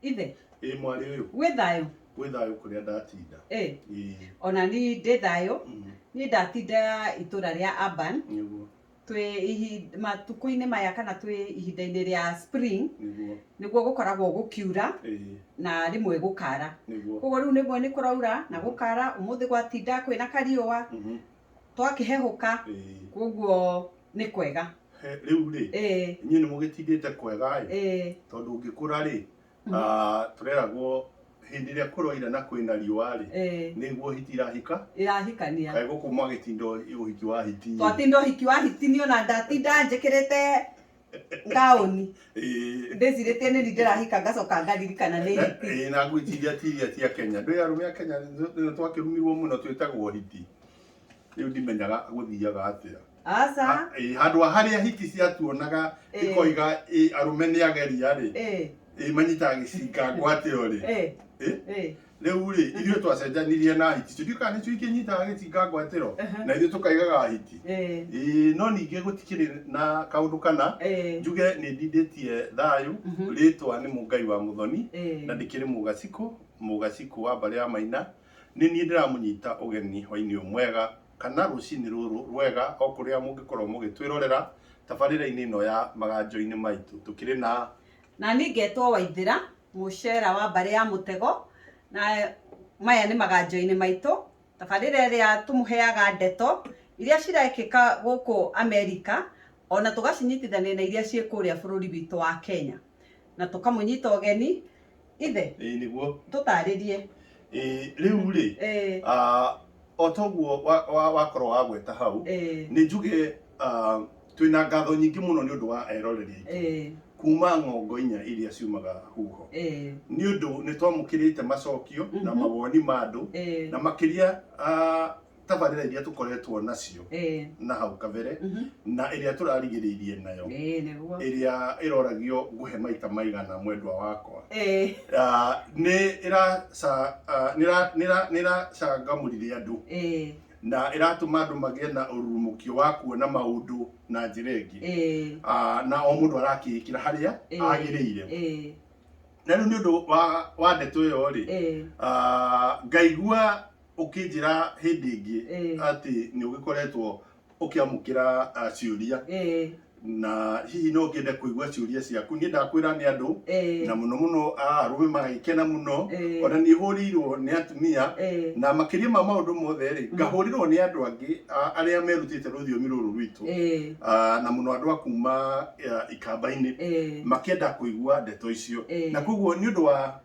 Ithe. Ĩĩ mwarĩ ũyũ. Wĩ thayũ? Wĩ thayũ kũrĩa ndatinda. Ĩĩ. Ĩĩ. Ona ni ndĩ thayũ. Mm. Ni ndatinda itũra rĩa Aban. Nĩguo. Twĩ ihi matukũ-inĩ maya kana twĩ ihinda-inĩ rĩa spring. Nĩguo. Nĩguo gũkoragwo gũkiura. Ĩĩ. Na rĩmwe gũkara. Nĩguo. Koguo rĩu nĩguo nĩ kũraura na gũkara. Ũmũthĩ gwatinda kwĩna kariũa. Mm -hmm. twakĩhehũka Ĩĩ. koguo nĩ kwega He- rĩu rĩ Ĩĩ, inyuĩ nĩ mũgĩtindĩte kwega ĩ ĩĩ, tondũ ũngĩkũra rĩ Mhm. ah, tũreragwo hĩndĩ ĩrĩa kũroira na kwĩna riũa rĩ ĩĩ. nĩguo hiti irahika ĩrahikania kaĩ gũkũ mwagĩtinda ũhiki wa hiti twatinda ũhiki wa hiti niĩ ona ndatinda njĩkĩrĩte taũni Ĩĩ. ndĩcirĩtie nĩ ndĩrahika ngacoka ngaririkana nĩ hiti Ĩĩ, na ngwĩciria ti iria cia kenya ndĩ arũme a kenya nĩ twakĩrumirwo mũno twĩtagwo hiti rĩu ndimenyaga gũthiaga atĩa aca Ha- ĩĩ, handũ ha harĩa hiti ciatuonaga Ĩĩ. ikoiga ĩĩ, arũme nĩ ageria rĩ Ĩĩ, ĩĩ, manyitaga gĩcinga ngwate ũrĩ ĩĩ, Ĩĩ? ĩĩ. rĩu rĩ ithuĩ twacenjanirie na hiti tũtiũĩ kana nĩcio ikĩnyitaga gĩtinga ngwatĩro Aha. na ithuĩ tũkaigaga hiti Eh, Ĩĩ, no ningĩ gũtikĩrĩ na kaũndũ kana eh, njuge nĩ ndindĩtie thayũ Mhm. rĩtwa nĩ mũngai wa mũthoni eh. na ndĩkĩrĩ mũgacikũ mũgacikũ wa mbarĩ ya maina nĩ niĩ ndĩramũnyita ũgeni hwainĩ ũyũ mwega kana rũcinĩ rũrũ rwega o kũrĩa mũngĩkorwo mũgĩtwĩrorera tabarĩra-inĩ ĩno ya maganjo-inĩ maitũ tũkĩrĩ na Na niĩ ngetwo Waithĩra, mũcera wa mbarĩ ya mũtego, na maya nĩ maganjo-inĩ maitũ, tabarĩra ĩrĩa tũmũheaga ndeto iria cirekĩka gũkũ Amerika, ona tũgacinyitithania na iria ciĩ kũrĩa bũrũri witũ wa Kenya, na tũkamũnyita ũgeni. Ithe, Ĩĩ nĩguo. tũtarĩrie. Ĩĩ rĩu rĩ, Ĩĩ. o toguo wakorwo wagweta hau, Ĩĩ. nĩ njuge twĩ na ngatho nyingĩ mũno nĩ ũndũ wa eroreri aitũ Eh, kuma ng'ongo inya iria ciumaga huho eh, nĩ ũndũ nĩ twamũkĩrĩte macokio na Mhm. mawoni ma andũ eh, na makĩria ah, tabarĩra iria tũkoretwo nacio eh, na hau kabere mhm. na ĩrĩa tũrarigĩrĩirie nayo Eh, nĩguo. ĩrĩa ĩroragio nguhe maita maigana mwendwa wakwa Eh, Ah, nĩ ĩraca- ah, nĩ ĩra- nĩ ĩra- nĩ ĩracangamũrire andũ eh, na ĩratũma andũ magĩe na ũrurumũkio wa kuona maũndũ na njĩra ĩngĩ ĩĩ Ah, na o mũndũ arakĩĩkĩra harĩa Ĩĩ. agĩrĩire ĩĩ na rĩu nĩ ũndũ wa, wa ndeto ĩyo rĩ ĩĩ ah, ngaigua ũkĩnjĩra hĩndĩ ĩngĩ Ĩĩ. atĩ nĩ ũgĩkoretwo ũkĩamũkĩra ah, ciũria ĩĩ na hihi no ngende kuigua ciuria ciaku ni ndakwira ni andu Eh. na muno muno arume magikena muno Eh. ona ni hurirwo ni atumia Eh. na makiria ma maundu mothe ri ngahurirwo ni andu angi a- aria merutite ruthiomi ruru rwitu Eh. Ah, na muno andu a kuma ah, ikamba-ini Eh. makienda kuigua ndeto icio Eh. na koguo ni undu wa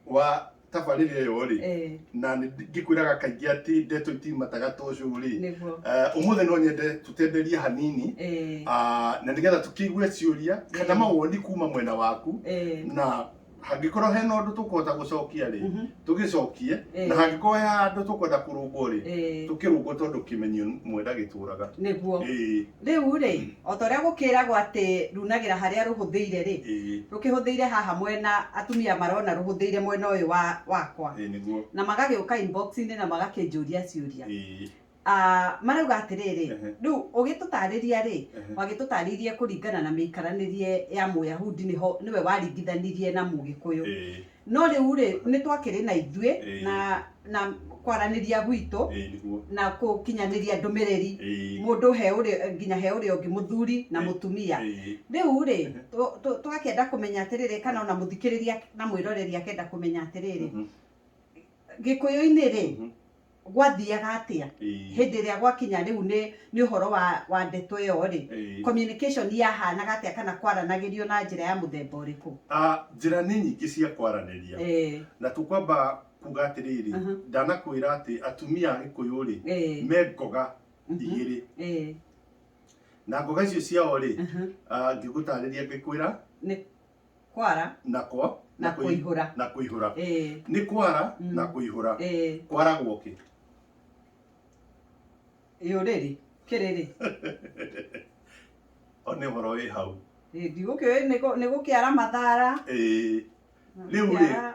wa tabarĩra ĩyo rĩ eh, na nĩ ngĩkwĩraga kaingĩ atĩ ndeto itimataga ta ũcũ rĩ nĩguo eh, ũmũthĩ no nyende tũtenderie hanini Eh, ah, na nĩgetha tũkĩigue ciũria kana Eh. mawoni kuma mwena waku eh, na hangĩkorwo hena ũndũ tũkũhota gũcokia rĩ mhm, tũgĩcokie Eh. na hangĩkorwo he handũ tũkwenda kũrũngwo rĩ eh, tũkĩrũngwo tondũ kĩmenyo mwenda gĩtũraga nĩguo Ĩĩ. Rĩu-rĩ, Mm. o ta ũrĩa gũkĩragwo atĩ runagĩra harĩa rũhũthĩire-rĩ, Ĩĩ, rũkĩhũthĩire haha mwena, atumia marona rũhũthĩire mwena ũyũ wa wakwa, ĩĩ nĩguo. na magagĩũka inbox-inĩ na magakĩnjũria ciũria. Ĩĩ, Ah, marauga atĩrĩrĩ, Ehe. rĩu ũgĩtũtarĩria-rĩ, ehe. wagĩtũtarĩirie kũringana na mĩikaranĩrie ya Mũyahudi nĩho nĩwe waringithanirie na Mũgĩkũyũ. Ĩĩ, no rĩu rĩ nĩ twakĩrĩ na ithuĩ Ĩĩ. na na kwaranĩria gwitũ ĩĩ nĩguo na kũkinyanĩria ndũmĩrĩri ĩĩ mũndũ he ũrĩa nginya he ũrĩa ũngĩ mũthuri na Ĩĩ. mũtumia ĩĩ rĩu rĩ Mhm. tũ- tũ- twakĩenda kũmenya atĩrĩrĩ kana ona mũthikĩrĩria na mwĩroreri akenda kũmenya atĩrĩrĩ Mhm. gĩkũyũ-inĩ rĩ Mhm. gwathiaga atia Ĩĩ. hĩndĩ ĩrĩa gwakinya rĩu nĩ nĩ ũhoro wa wa ndeto ĩyo rĩ Ĩĩ. communication yahanaga atĩa kana kwaranagĩrio na njĩra ya mũthemba ũrĩkũ Ah, njĩra nĩ nyingĩ cia kwaranĩria Eh, na tũkwamba kuga atĩrĩrĩ Aha. ndanakwĩra atĩ atumia a gĩkũyũ rĩ eh, me ngoga Mhm. igĩrĩ eh, na ngoga icio ciao rĩ aha. ah, ngĩgũtarĩria ngĩkwĩra Nĩ- kwara na kwa na kũi- kũihũra na kũihũra Eh, nĩ kwara Mm. na kũihũra eh, kwaragwo kĩ yũrĩrĩ kĩrĩrĩ o nĩ ũhoro wĩ hau Eh, ndigũkĩũĩ nĩ gũ- nĩ gũkĩara mathara Ĩĩ. Rĩu rĩ, Gũkĩara-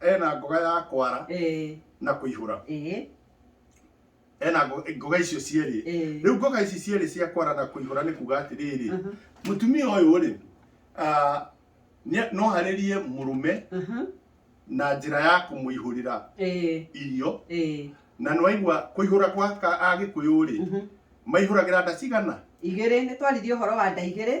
ena ngoga ya kwara eh, na kũihũra eh, ena ngo- ngoga icio cierĩ eh. rĩu ngoga ici cierĩ cia kwara na kũihũra nĩ kuga atĩrĩrĩ Aha, mũtumia ũyũ rĩ ah, nĩ- no harĩrie mũrũme aha, na njĩra ya kũmũihũrĩra eh, irio eh, na nĩwaigua kũihũra gwa ka- agĩkũyũ rĩ mhm. maihũragĩra nda cigana Igĩrĩ, nĩ twaririe ũhoro wa nda igĩrĩ.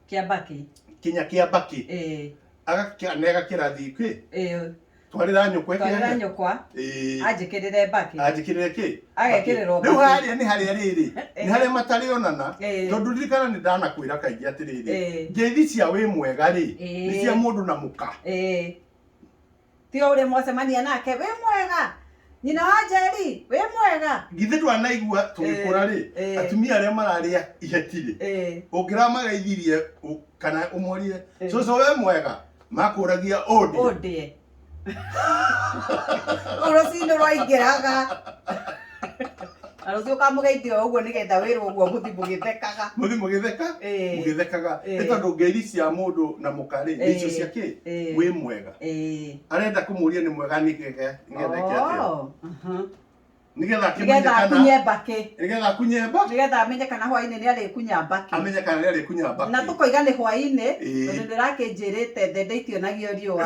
Kĩa mbakĩ. Kinya kĩa mbakĩ. Ĩĩ. Agakĩa na ĩgakĩra thiĩ kwĩ. Ĩĩ. Twarĩra nyũkwa ĩkĩage. Twarĩra nyũkwa. Ĩĩ. Anjĩkĩrĩre mbakĩ. Anjĩkĩrĩre kĩ? Agekĩrĩrwo mbakĩ. Rĩu harĩa nĩ harĩa rĩrĩ, nĩ harĩa matarĩonana. Ĩĩ. Tondũ ririkana nĩ ndanakwĩra kaingĩ atĩrĩrĩ. Ĩĩ. Ngeithi cia wĩ mwega rĩ. Ĩĩ. Nĩ cia mũndũ na mũka. Ĩĩ. ti o ũrĩa mwacemania nake wĩ mwega nyina wa njeri wĩ mwega githĩ twanaigua tũgĩkũra rĩ Eh, eh. atumia arĩa mararĩa iheti rĩ Eh, ũngĩramagaithirie ũ- kana ũmorie Eh. cũcũ we mwega makũragia ũndĩ ũndĩe rũcinĩ rwaingĩraga na rũciũ ũkamũgeithia o ũguo nĩgetha wĩrwo ũguo mũthi mũgĩthekaga muthi mugitheka Ĩĩ. mugithekaga Ĩĩ. nĩ tondũ ngeithi cia mũndũ na mũkarĩ Ĩĩ. icio cia kĩ Ĩĩ. wĩ mwega Ĩĩ. arenda kũmũria nĩ mwega nĩgetha nĩgetha eke atĩa Oh, aha. nĩgetha akĩmenye nĩgetha kana akunye mbakĩ nĩgetha akunye mba nĩgetha amenye kana hwainĩ nĩ arĩkunya mbakĩ amenye kana nĩ arĩkunya mba na tũkoiga nĩ hwainĩ Ĩĩ. tondũ nĩ ũrakĩnjĩrĩte thende itionagio riũa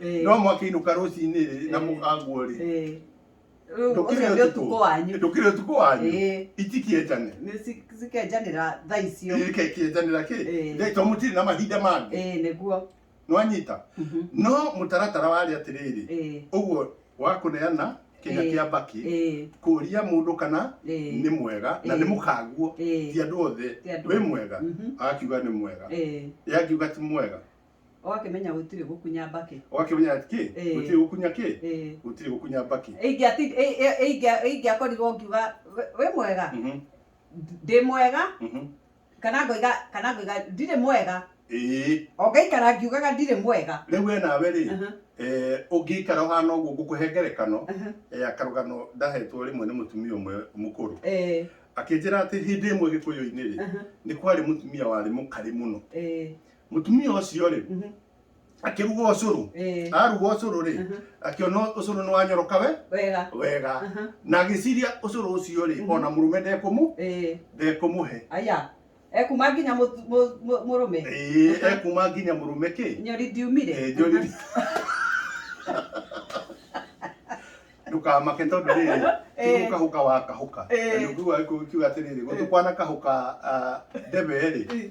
Eh. no mwakĩinũka rũcinĩ rĩ na Eh. mũkagwo rĩ Eh. Rĩu Ndũkĩrĩ ũcio nĩ ũtukũ. ũtukũ wanyu ndũkĩrĩ ũtukũ wanyu Eh. itikĩenjane Nĩ ci- cikenjanĩra thaa icio kĩenjanĩra kĩ Eh. Ndĩ- to mũtirĩ na mahinda mangĩ Eh, nĩguo nĩwanyita Mhm. no mũtaratara warĩ atĩrĩrĩ Eh, ũguo wa kũneana kĩnya Eh. kĩa mbakĩ eh, kũria mũndũ kana eh, nĩ mwega na Eh. nĩ mũkaguo eh, ti andũ othe Ti andũ wĩ othe. mwega Mhm. akiuga nĩ mwega eh. yakiuga ti mwega ũgakĩmenya gũtirĩ gũkunya mbakĩ ũgakĩmenya kĩ Eh. gũtirĩ gũkunya kĩ Eh. gũtirĩ gũkunya mbakĩ Ingĩati- ĩ- ĩ- ingĩa- ingĩakorirwo ngiuga "Wĩ- wĩ mwega Mhm, ndĩ mwega mhm. kana ngoiga kana ngoiga ndirĩ mwega Ĩĩ. ongaikara ngiugaga ndirĩ mwega rĩu we nawe rĩ Aha, eh, ũngĩikara ũhana ũguo ngũkũhe ngerekano aha, eh, akarũgano ndahetwo rĩmwe nĩ mũtumia ũmwe mũkũrũ eh, akĩnjĩra atĩ hĩndĩ ĩmwe gĩkũyũ-inĩ rĩ aha, nĩ kwarĩ mũtumia warĩ mũkarĩ mũno eh, Mũtumia ũcio rĩ, Mhm. akĩruga ũcũrũ. Eh, Aruga ũcũrũ rĩ, Mhm. akĩona ũcũrũ nĩ wanyoroka we wega wega. Aha. Na agĩciria ũcũrũ ũcio rĩ, Mhm. ona mũrũme ndekũmũ Eh, ndekũmũhe. aya ekuma nginya mũtu- mũ- mũ- mũrũme Ĩĩ, Aha. ekuma nginya mũrũme kĩ? nyori ndiumire Eh, njori. Ndũkamake tondũ rĩrĩ, Eh. kĩu kahũka wa kahũka. Eh. Na nĩũkĩuga gĩkũyũ kiuga atĩrĩrĩ, gũtũ kwana kahũka ah, ndebe rĩ,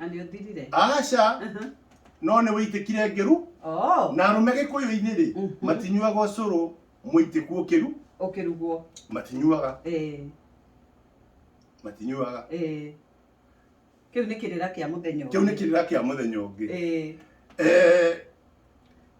Na nĩ ũthirire. aca Aha. no nĩ wĩitĩkire ngĩru Oh, na arũme gĩkũyũ-inĩ rĩ Mhm. matinyuaga ũcũrũ mũitĩku ũkĩru ũkĩrugwo. matinyuaga Eh, matinyuaga eh. Kĩu nĩ kĩrĩra kĩa mũthenya kĩu nĩ ũngĩ. kĩrĩra kĩa mũthenya ũngĩ Eh, Eh,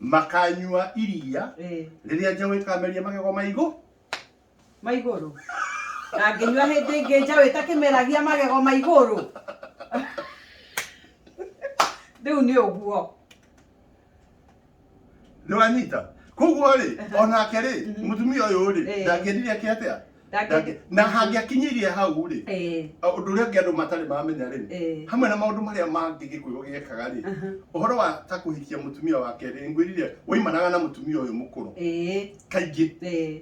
makanyua iria Eh, rĩrĩa njaũ ĩkameria magego ma igũ ma igũrũ na ngĩnyua hĩndĩ ĩngĩ njaũ ĩtakĩmeragia magego ma igũrũ rĩu nĩ ũguo nĩwanyita koguo rĩ onake rĩ mũtumia ũyũ rĩ Eh. ndangĩendire ake atĩa Ndangĩ- na hangĩakinyĩirie hau rĩ Eh, ũndũ ũrĩa ũngĩ andũ matarĩ maramenya rĩ eh, hamwe na maũndũ marĩa mangĩ gĩkũyũ gĩekaga rĩ aha, ũhoro wa ta kũhikia mũtumia wa kerĩ ngwĩrire waimanaga na mũtumia ũyũ mũkũrũ eh, kaingĩ eh,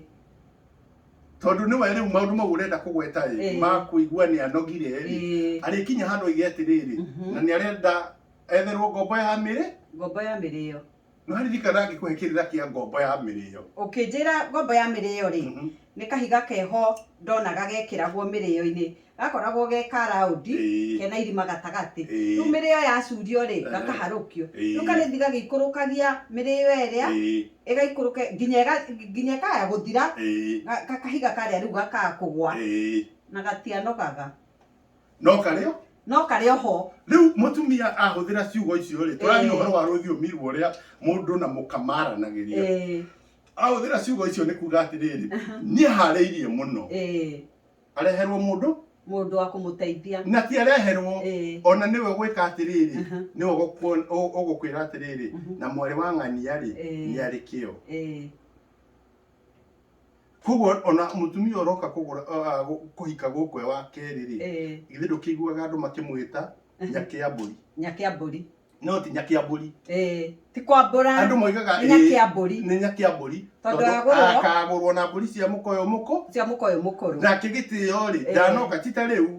tondũ nĩ we rĩu maũndũ mau ũrenda kũgweta rĩ Eh. makũigua nĩ anogire rĩ eh. arĩkinya handũ oige atĩrĩrĩ Mhm. na nĩ arenda etherwo ngombo ya mĩrĩ Ngombo ya mĩrĩo. Nĩwaririkana ngĩkũhe kĩrĩra kĩa ngombo ya mĩrĩyo. Ũkĩnjĩra ngombo ya mĩrĩyo-rĩ, Mhm. nĩ kahiga keho ndonaga gekĩragwo mĩrĩyo-inĩ, gakoragwo ge ka round, Ĩĩ. kena irima gatagatĩ. Ĩĩ. Rĩu mĩrĩyo yacurio-rĩ, Ehe. gakaharũkio. Ĩĩ. Rĩu karĩthi gagĩikũrũkagia mĩrĩyo ĩrĩa, Ĩĩ, ĩgaikũrũka nginya ĩga- nginya ĩkaya gũthira, ĩĩ, ga- ga- kahiga karĩa rĩu gakaga kũgwa, ĩĩ. na gatianogaga. no karĩ o no karĩ oho rĩu mũtumia ahũthĩra ciugo icio rĩ tũraria Eh. ũhoro wa rũthiomi rũrĩa mũndũ na mũka maranagĩria eh, ahũthĩra ciugo icio nĩ kuga atĩrĩrĩ niĩ harĩirie mũno eh, areherwo mũndũ mũndũ wa kũmũteithia na ti areherwo Eh. ona nĩwe gwĩka atĩrĩrĩ Aha. nĩwe ũgũkuo- ũ- ũgũkwĩra atĩrĩrĩ Mhm. na mwarĩ wa ng'ania rĩ Eh. nĩ arĩ kĩo Eh, koguo ona mutumia uroka kugura uh, gu- kuhika guku e wa keri ri Eh, githĩ ndũkĩiguaga andũ makĩmwĩta nyakĩ ya mbũri nyakĩ ya mbũri no ti nyakĩ ya mbũri Eh, ti kwambũra andũ moigaga nĩ nyakĩ "Ĩĩ, ya mbũri nĩ nyakĩ ya mbũri Tondũ tondũ agũrwo. akagũrwo na mbũri cia mũkoyo mũkũ cia mũkoyo mũkũrũ nake gĩtĩo rĩ Eh. ndanoka ti ta rĩu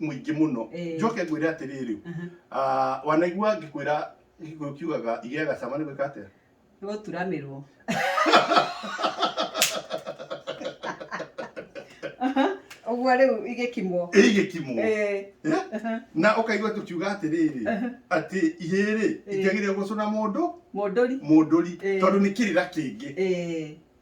mũingĩ mũno Eh. njoke ngwĩre atĩrĩrĩ Aha. ah, wanaigua ngĩkwĩra gĩkũyũ kiugaga igĩaga cama nĩ gwĩka atĩa nĩ gũturamirwo ũguo rĩu igĩkimwo ĩigĩkimwo Eh, aha. na ũkaigua tũkiuga atĩrĩrĩ atĩ ihĩrĩ Eh. ingĩagĩrĩra gũcũna mũndũ mũndũri mũndũri Eh. tondũ nĩ kĩrĩra kĩngĩ Eh,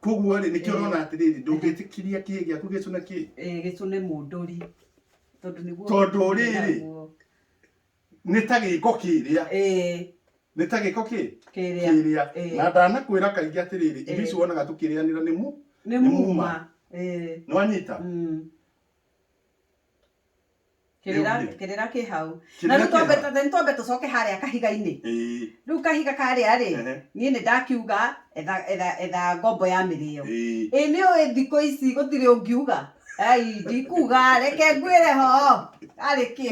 koguo rĩ nĩkĩo ũrona atĩrĩrĩ ndũngĩtĩkiria kĩĩ gĩaku gĩcũne kĩĩ eh, gĩcũne mũndũri tondũ nĩguo tondũ rĩrĩ nĩ ta gĩko kĩrĩa eh. nĩ ta gĩko kĩ kĩrĩa eh. na ndanakwĩra kaingĩ atĩrĩrĩ irio ici wonaga tũkĩrĩanĩra nĩ mu nĩ muma nĩwanyita mm. kĩrĩra Nĩũgire. kĩrĩra kĩ hau na Kĩrĩra rĩu kĩ twambe hau. nĩ twambe tũcoke harĩa kahiga-inĩ Ĩĩ, rĩu kahiga karĩa rĩ ehe, niĩ nĩ ndakiuga etha- etha- etha ngombo ya mĩrĩo ĩĩ. ĩ nĩ ũĩ thikũ ici gũtirĩ ũngiuga ai ndikuga reke ngwĩre ho arĩ kĩ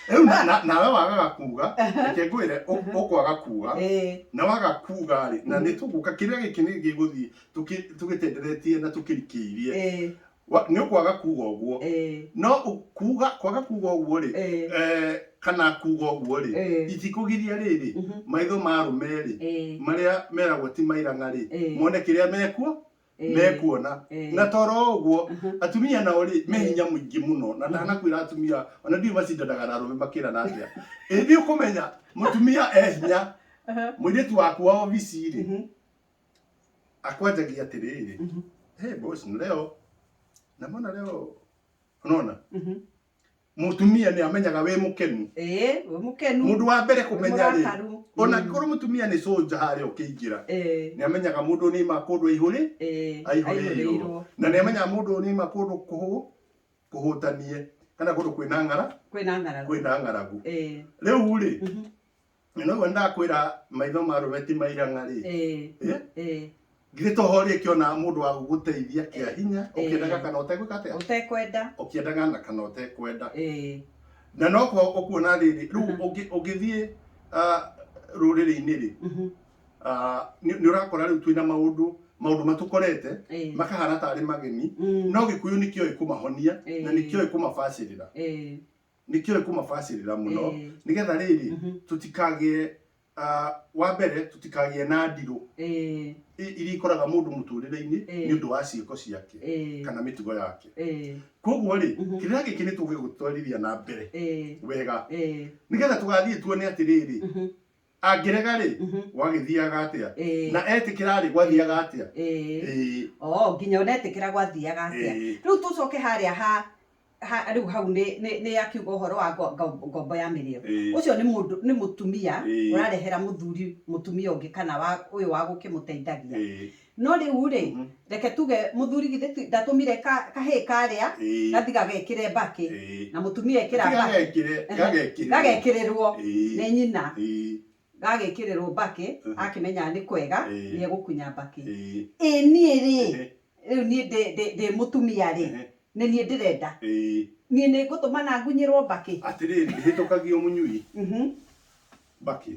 Rĩu na- na- nawe wagaga kuga reke ngwĩre ũ- ũkwaga kuga Ĩ, na waga kuga rĩ na nĩ tũgũka kĩrĩa gĩkĩ nĩ gĩgũthiĩ tũkĩ- tũgĩtenderetie na tũkĩrikĩirie ĩ, Wa- nĩ ũkwaga kuga ũguo Eh, no ũ- kuga kwaga kuga ũguo rĩ Eh. eh, kana kuga ũguo rĩ Eh. itikũgiria rĩrĩ Mhm. maitho ma arũme rĩ eh, marĩa meragwo ti mairang'a rĩ Eh. mone kĩrĩa mekuo Eh. mekuona Eh. na toro ũguo Mhm. atumia nao rĩ me hinya mũingĩ mũno na ndanakwĩra atumia ona ndiũ macindanaga na arũme makĩrana atĩa ĩthiĩ ũkũmenya mũtumia e hinya mũirĩtu waku wa obici rĩ Mhm. akwanjagia atiriri Mhm. hey boss leo na mbona leo unaona Mhm. mutumia ni amenyaga wi mukenu Eh, we mukenu. mundu wa mbere kumenya ri Murakaru. ona Mm. ngoro mutumia ni soja hari ukiingira Eh, ni amenyaga mundu ni ma kundu ihuri eh, aihuri aihũrĩirwo. na ni amenyaga mundu ni ma kundu kuhu kuhutanie kana kundu kwina ngara Kwĩna ng'aragu. kwina ngaragu Eh, riu ri mhm. na ũguo ndakwĩra maitho ma rũme ti mairang'a rĩ Eh, Eh? eh. githĩ to ho rĩkĩona mũndũ wa gũgũteithia kĩa hinya Eh. ũkĩendaga kana ũtegwĩka atĩa ũtekwenda ũkĩendaga na kana ũtekwenda Eh, na no kwa ũkuona rĩrĩ rĩu Mhm. ũngĩ- ũngĩthiĩ ah, rũrĩrĩ-inĩ rĩ mhm, ah, nĩ nĩ ũrakora rĩu twĩna maũndũ maũndũ matũkorete eh, makahana tarĩ mageni mm, no gĩkuyu nĩkĩoĩ kũmahonia na Eh. nĩkĩoĩ kũmabacĩrĩra eh, nĩkĩo ĩkũmabacĩrĩra mũno Ĩĩ. nĩgetha rĩrĩ Mhm. tũtikagĩe ah, wa mbere tũtikagĩe na ndirũ Ĩĩ, i- iria ikoraga mũndũ mũtũrĩre-inĩ Ĩĩ. nĩ ũndũ wa ciĩko ciake ĩĩ, kana mĩtugo yake ĩĩ, koguo rĩ Mhm. kĩrĩa gĩkĩ nĩ tũgĩgũtwarithia na mbere ĩĩ, wega ĩĩ, nĩgetha tũgathiĩ tuone atĩrĩrĩ mhm, angĩrega-rĩ Mhm. gwagĩthiaga atĩa Ĩĩ. na etĩkĩra-rĩ gwathiaga atĩa Ĩĩ. Ĩĩ, Oo, nginya ũnetĩkĩra gwathiaga atĩa Ĩĩ. rĩu tũcoke harĩa ha ha- rĩu hau nĩ- nĩ nĩ akiuga ũhoro wa ngo- ngo- ngombo ya mĩrĩo Ĩĩ. ũcio nĩ mũndũ nĩ mũtumia Ĩĩ. ũrarehera mũthuri mũtumia ũngĩ kana wa ũyũ wa gũkĩmũteithagia Ĩĩ. No rĩu rĩ, Mhm. reke tuge mũthuri githĩ ti- ndatũmire ka- kahĩĩ karĩa Ĩĩ. gathi gagekĩre mbakĩ Ĩĩ. na mũtumia ekĩra Ati mbakĩ gagekĩre- Ehe. gagekĩrĩrwo. gagekĩrĩrwo Ĩĩ. nĩ nyina Ĩĩ. gagĩkĩrĩrwo mbakĩ Mhm. akĩmenyaga nĩ kwega Ĩĩ. nĩ egũkunya mbakĩ Ĩĩ. ĩ niĩ rĩ Ehe. rĩu niĩ ndĩ- ndĩ ndĩ mũtumia rĩ Ehe. nĩ niĩ ndĩrenda Ĩĩ. niĩ nĩ ngũtũmana ngunyĩrwo mbakĩ Atĩrĩrĩ, ndĩhĩtũkagio mũnyui Mhm. mbakĩ.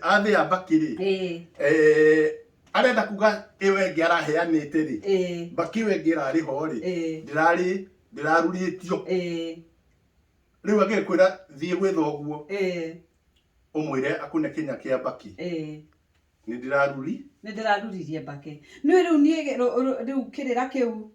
athĩa mbakĩ rĩ Eh, eh, arenda kuga ĩyo ĩngĩ araheanĩte rĩ eh, mbakĩ ĩyo ĩngĩ ĩrarĩ ho rĩ eh, ndĩrarĩ ndĩrarurĩtio eh, rĩu agĩkwĩra thiĩ gwĩ thoguo eh, ũmwĩre akune kĩnya kĩa mbakĩ eh. nĩ ndĩraruri nä ndä raruririe mbake nä rä u niä rä u kä rä ra kä u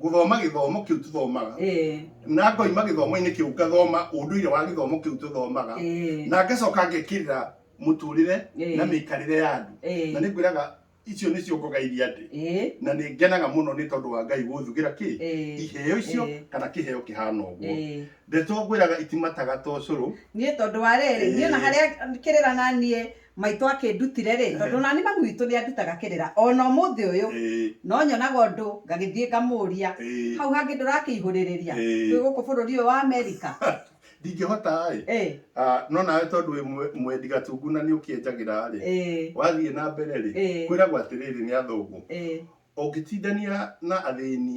gũthoma gĩthomo kĩu tũthomaga eh. na ngoima gĩthomo-inĩ kĩu ngathoma ũndũire wa gĩthomo kĩu tũthomaga eh. na ngacoka ngekĩrĩra mũtũrĩre eh. na mĩikarĩre ya andũ na nĩ ngwĩraga icio nä cio ngogaithia andä na nä ngenaga må no nä tondå wa ngai gå thugä kä iheo icio kana kä heo kä hana å guo ndeto ngwä raga itimataga tocå rå nä tondå wa rä rä niä na harä a kä rä ra naniä Maitũ akĩndutire-rĩ, tondũ o na niĩ mami witũ nĩandutaga kĩrĩra o na ũmũthĩ ũyũ, no nyonaga ũndũ ngagĩthiĩ ngamũria, hau hangĩ ndũrakĩihũrĩrĩria twĩ gũkũ bũrũri ũyũ wa Amerika? Ndingĩhota-ĩ, no nawe tondũ wĩ mwendi gatungu na nĩũkĩenjagĩra-rĩ, wathiĩ na mbere-rĩ, kwĩragwo atĩrĩrĩ nĩ athũngũ, ũngĩtindania na athĩni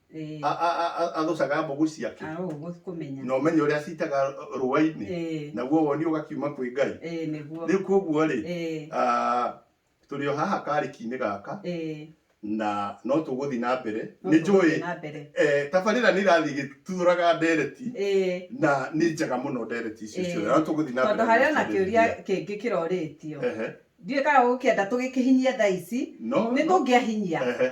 Eh, a- a- a- a- athũcaga mbũgũ ciake ah, ũguo kũmenya. na ũmenye ũrĩa citaga rũa-inĩ Eh, naguo woni ũgakiuma kwĩ ngai eh, nĩguo. rĩu koguo rĩ Eh, ah, tũrĩ o haha karĩki-inĩ gaka eh, na no tũgũthiĩ na mbere no nĩ tũgũthiĩ njũĩ na mbere. eh, tabarĩra nĩ irathiĩ igĩturaga ndereti Eh, na nĩ njega mũno ndereti icio Eh, ciothe no tũgũthiĩ na tondũ harĩ ona kĩũria gũkĩrĩria. kĩngĩ kĩrorĩtio Ehe, ndiũĩ kana ũgũkĩenda tũgĩkĩhinyie thaa ici no nĩ no, tũngĩahinyia ehe,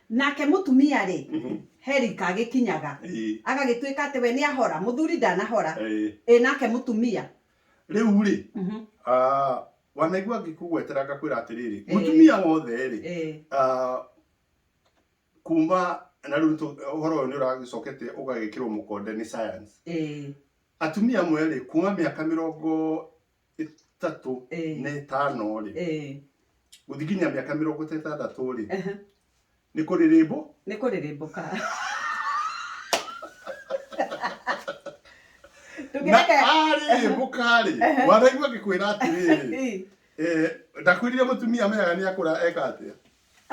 Nake mũtumia-rĩ, herika agĩkinyaga, agagĩtuĩka atĩ we nĩahora, mũthuri ndanahora, ĩ nake mũtumia. Rĩu-rĩ, wanaigua ngĩkũgwetera ngakwĩra atĩrĩrĩ, mũtumia wothe-rĩ, kuma, na rĩu ũhoro ũyũ nĩũragĩcokete ũgagĩkĩrwo mũkonde nĩ science, atumia amwe-rĩ, kuma mĩaka mĩrongo ĩtatũ Eh. na ĩtano rĩ Eh, gũthiĩ nginya mĩaka mĩrongo ĩtandatũ rĩ aha. nĩ kũrĩ rĩmbũ nĩ kũrĩrĩmbũka na ndũkĩreke arĩrĩmbũka rĩ Ehe. waraigua ngĩkwĩra atĩrĩrĩ Eh, ndakwĩrire mũtumia amenyaga nĩ akũra eka atĩa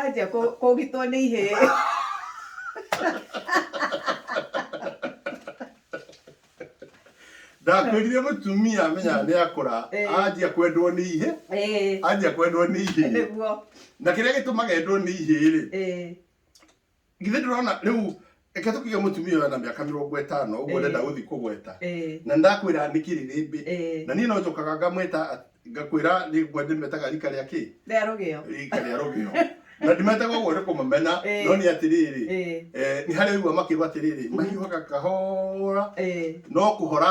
anjia kũ- kũgitwo nĩ ihĩĩ ndakwĩrire mũtumia menya nĩ akũra Eh. anjia kwendwo nĩ ihĩ Ĩĩ, anjia kwendwo nĩ ihĩ nĩguo na kĩrĩa gĩtũmaga endwo nĩ ihĩ rĩ Ĩĩ, githĩ ndĩrona rĩu reke tũkige mũtumia ũyũ na mĩaka mĩrongo ĩtano ũguo Eh. ndenda gũthiĩ kũgweta Eh, na ndakwĩra nĩ kĩrĩrĩmbĩ eh, na niĩ no njokaga ngamwĩta at- ngakwĩra rĩngwa ndĩmetaga rika rĩa kĩ rĩa rũgĩo rika rĩa rũgĩo na ndimetaga ũguo nĩ kũmamena Eh. no nĩ atĩrĩrĩ Eh, eh, nĩ harĩ ũigua makĩrwo atĩrĩrĩ mahiũhaga kahora eh. no kũhora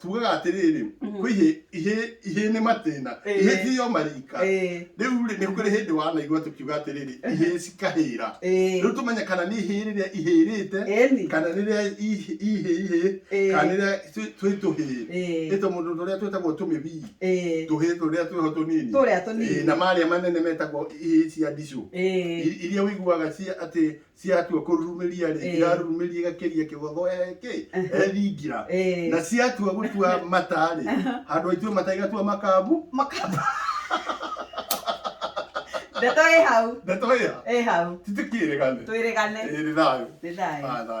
tugaga atĩrĩrĩ rĩu Mhm. kwĩ ihĩ- ihĩ- ihĩ nĩ matĩna Ĩĩ. ihĩ thiyo marika Ĩĩ, rĩu rĩ nĩ kũrĩ hĩndĩ wanaigua tũkiuga atĩrĩrĩ ihĩ cikahĩra ĩĩ. rĩu tũmenye kana nĩ ihĩ rĩrĩa ihĩrĩte Ĩni. kana rĩrĩa ihĩ ihĩ ihĩ Ĩĩ. kana rĩrĩa twĩ- twĩ tũhĩ Ĩĩ. ĩto mũndũ tũrĩa twĩtagwo tũmĩbii Ĩĩ. tũhĩ tũrĩa twĩho tũnini Tũrĩa tũnini. Ĩĩ, na marĩa manene metagwo ihĩ cia ndicũ Ĩĩ. I- iria wĩiguaga cia atĩ ciatua kũrurumiria rĩ Eh. irarurumiria igakiria kĩgotho eki Eh. ethingira Eh. na ciatua gũtua mata rĩ handũ aitue mata igatua makambu Makamba. Ndeto ĩ hau. ndeto ĩya Ĩ hau. titikĩrĩgane Twĩrĩgane. ĩrĩ thayo Nĩ thayũ. Ah, thayo